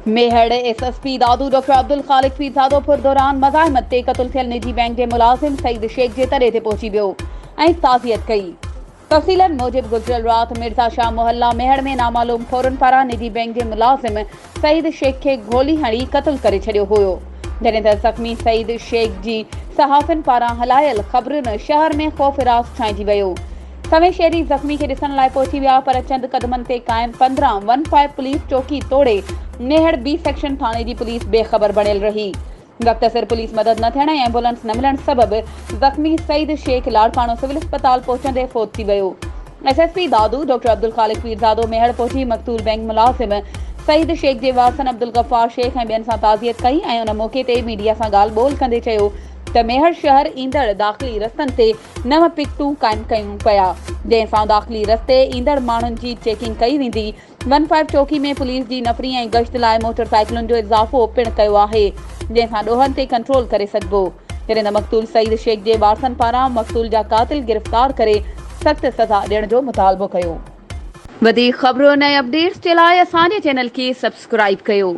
Mehar S S P Dadu doctor Abdul Khaliq Pirzado پر دوران مزاحمت تي قتل ٿيل نجي بئنڪ جي ملازم سعيد شيخ جي تڏي تي پهچي ويو ۽ تعزيت ڪئي. تفصيلن موجب گذريل رات مرزا شاهه محله ميهڙ ۾ نامعلوم ڦورن پاران نجي بئنڪ جي ملازم سعيد شيخ کي گولي هڻي قتل ڪري ڇڏيو هيو جڏهن ته زخمي سعيد شيخ جي صحافين پاران هلايل خبرن شهر ۾ خوف راس ڇائنجي ويو سوين شهري زخمي کي ڏسڻ لاء پهچي ويا پر چند قدمن تي قائم پندرهن ون فائيو پوليس چوڪي توڙي ميهڙ بي سيڪشن ٿاڻي جي پوليس بي خبر بڻيل رهي وقت سر پوليس مدد نه ٿيڻ ۽ ايمبولنس نه ملڻ سبب زخمي سعيد شيخ لاڙڪاڻو سول اسپتال پهچندي فوت ٿي ويو. S S P Dadu doctor Abdul Khaliq Pirzado Mehar پهچي مقتول بئنڪ ملازم سعيد شيخ جي وارثن عبدالغفار شيخ ۽ ٻين سان تعزيت ڪئي ۽ ان موقعي تي ميڊيا سان ڳالهه ٻولهه ڪندي چيو ته ميهڙ شهر ايندڙ داخلي رستن تي نو پڪيٽون قائم ڪيون پيا جنهن سان داخلي رستي ايندڙ ماڻهن جي چيڪنگ ڪئي ويندي ون فائيو چوڪي ۾ پوليس جي نفري ۽ گشت لاء موٽر سائيڪلن جو اضافو پڻ ڪيو آهي جنهن سان ڏوهن تي ڪنٽرول ڪري سگهبو ڪريندا مقتول سعيد شيخ جي وارثن پاران مقتول جا قاتل گرفتار ڪري سخت سزا ڏيڻ جو مطالبو ڪيو. وڌيڪ خبرن ۽ اپڊيٽس جي لاء اسان جي چينل کي سبسڪرائيب ڪيو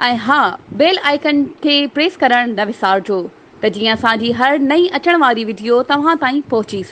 ۽ ها بيل آئيڪن کي پريس ڪرڻ نه وسارجو ته جيئن اسان جي هر نئين اچڻ واري وڊيو توهان تائين پهچي